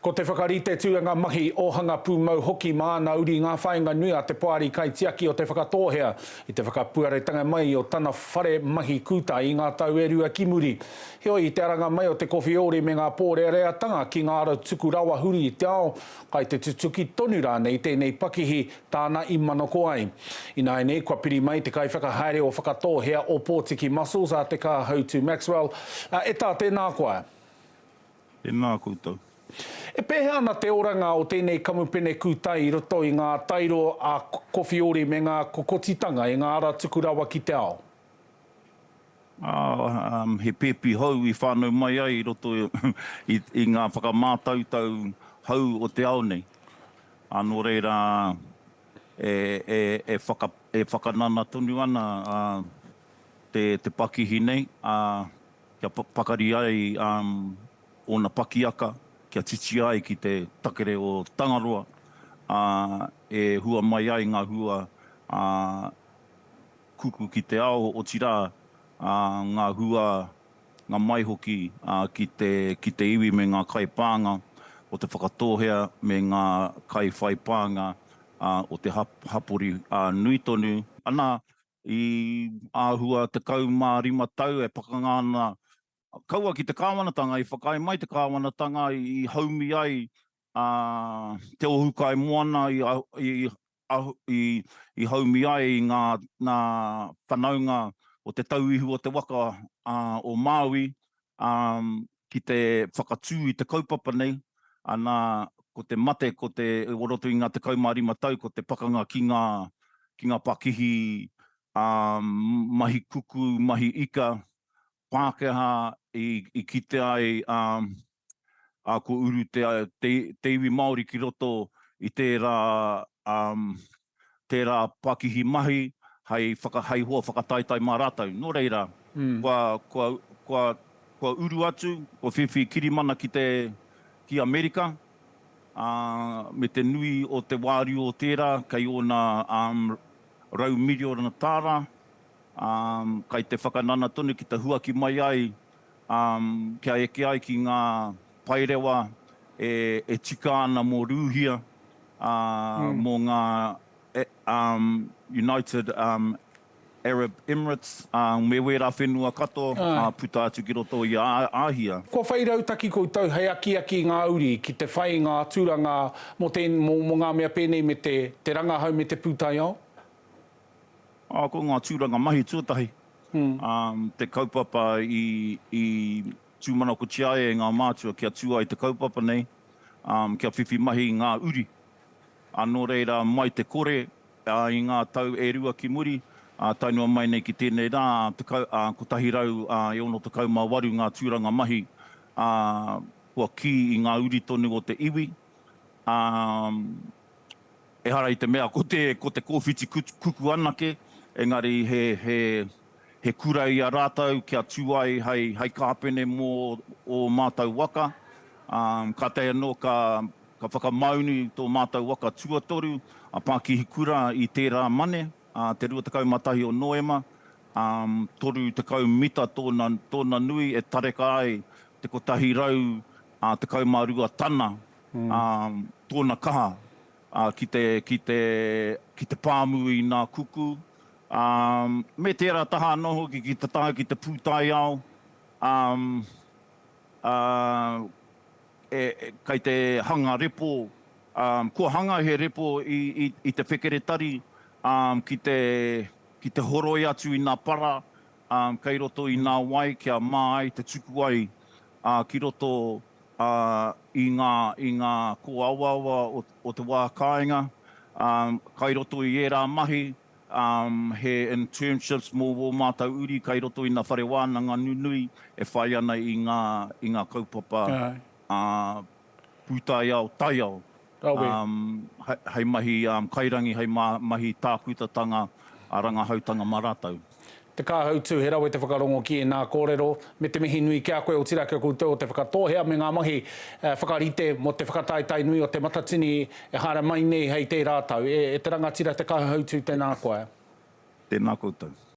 Ko te whakarite tūranga mahi, ōhanga pūmau hoki mā ana uri ngā whāinga nui a te Poari Kaitiaki o Te Whakatōhea i te whakapuaretanga mai o tana whare mahi kūtai i ngā tau e rua ki muri. Heoi, i te aranga mai o te Kowhiori me ngā pōreareatanga ki ngā arau tuku rawa huri i te ao, kai te tutuki tonu rānei tēnei pakihi tāna i manako ai. Ināianei, kua piri mai te kaiwhakahaere o Whakatōhea Ōpōtiki Muscles a Te Kāhautu Maxwell, ā, e tā, tēnā koa! Tēnā koutou. E pēhea ana te oranga o tēnei kamupene kūtai i roto i ngā tairo a Kowhiori me ngā kokotitanga i ngā ara tuku rawa ki te ao? He pēpi hou i whānau mai ai i roto i ngā whakamātautau hou o te ao nei. Nō reira, e whakanana tonu ana te pakihi nei. kia pakari ai ōna pakiaka, kia titia ai ki te takere o Tangaroa, ā, e hua mai ai ngā hua kuku ki te ao, otirā, ngā hua, ngā mai hoki ki te iwi me ngā kaipānga o Te Whakatōhea me ngā kaiwhaipānga o te hapori nui tonu. Anā, i āhua 15 tau e pakanga ana kaua ki te kāwanatanga, i whakaae mai te kāwanatanga i haumi ai te ohukai moana i haumi ai i ngā whanaunga o te tauihu o te waka o Māui, ki te whakatū i te kaupapa nei, ana, ko te mate, ko te, o roto i ngā tekau mā rima tau, ko te pakanga ki ngā, ki ngā pakihi, ā, mahi kuku, mahi ika, Pākehā i, i kite ai, ā, ā, kua uru te, te, te iwi Māori ki roto i tērā, ā, tērā pakihi mahi hei whakahaihoa whakataetae mā rātou. Nō reira, kua uru atu, kua whiwhi kirimana ki Amerika, ā, me te nui o te wāriu o tērā kei ōna rau miriona tāra, ā, kei te whakanana tonu ki te huaki mai ai kia eke ai ki ngā paerewa e tika ana mō Rūhia, mō ngā United Arab Emirates, me wērā whenua katoa puta atu ki roto i a Āhia. Kua whai rautaki koutou hei akiaki i ngā uri ki te whai i ngā aturanga mō ngā mea pēnei me te rangahau me te pūtaiao? Ko ngā tūranga mahi tuatahi te kaupapa i tūmanakotia ai e ngā mātua kia tū ai te kaupapa nei, kia whiwhi mahi ngā uri. Nō reira, mai te kore i ngā tau e rua ki muri, tae noa mai nei ki tēnei rā, 168 ngā tūranga mahi kua kī i ngā uri tonu o te iwi, ā, Ehara i te mea ko te, ko te kōwhiti kuku anake, engari he, he, he kura i a rātou kia tū ai hei, hei kāpene mō ō mātou waka, ā, kātahi anō ka, ka whakamaunu tō mātou waka tuatoru, a Pākihi Kura i tērā mane, ā, te 21 o Noema, ā, 30 mita tōna, tōna nui e tareka ai te 100, ā, 12 tana tōna kaha ki te, ki te, ki te pāmu i nā kuku, me tērā taha anō hoki ki te tae ki te pūtaiao, e, kei te hanga repo, kua hanga he repo i te whekeretari, ki te, ki te horoi atu i nā para kei roto i nā wai kia mā ai te tuku ai ā, ki roto, ā, i ngā, i ngā kōawaawa o, o te wā kāinga, ā, kai roto i ērā mahi, ā, he internships mō wō mātou uri kai roto i nā whare wānanga nunui e whai ana i ngā, i ngā kaupapa, ā, pūtaiao, taiao. rawe. Hei mahi kairangi, hei mahi tākutatanga, rangahautanga mā rātou. Te Kāhautū, he rawe te whakarongo ki ēnā kōrero, me te mihi nui ki a koe, otirā kia koutou o te whakatōhea me ngā mahi whakarite mō te whakataetae nui o Te Matatini e haere mai nei hei tērā tau. E te rangatira Te Kāhautū, tēnā koe. Tēnā koutou.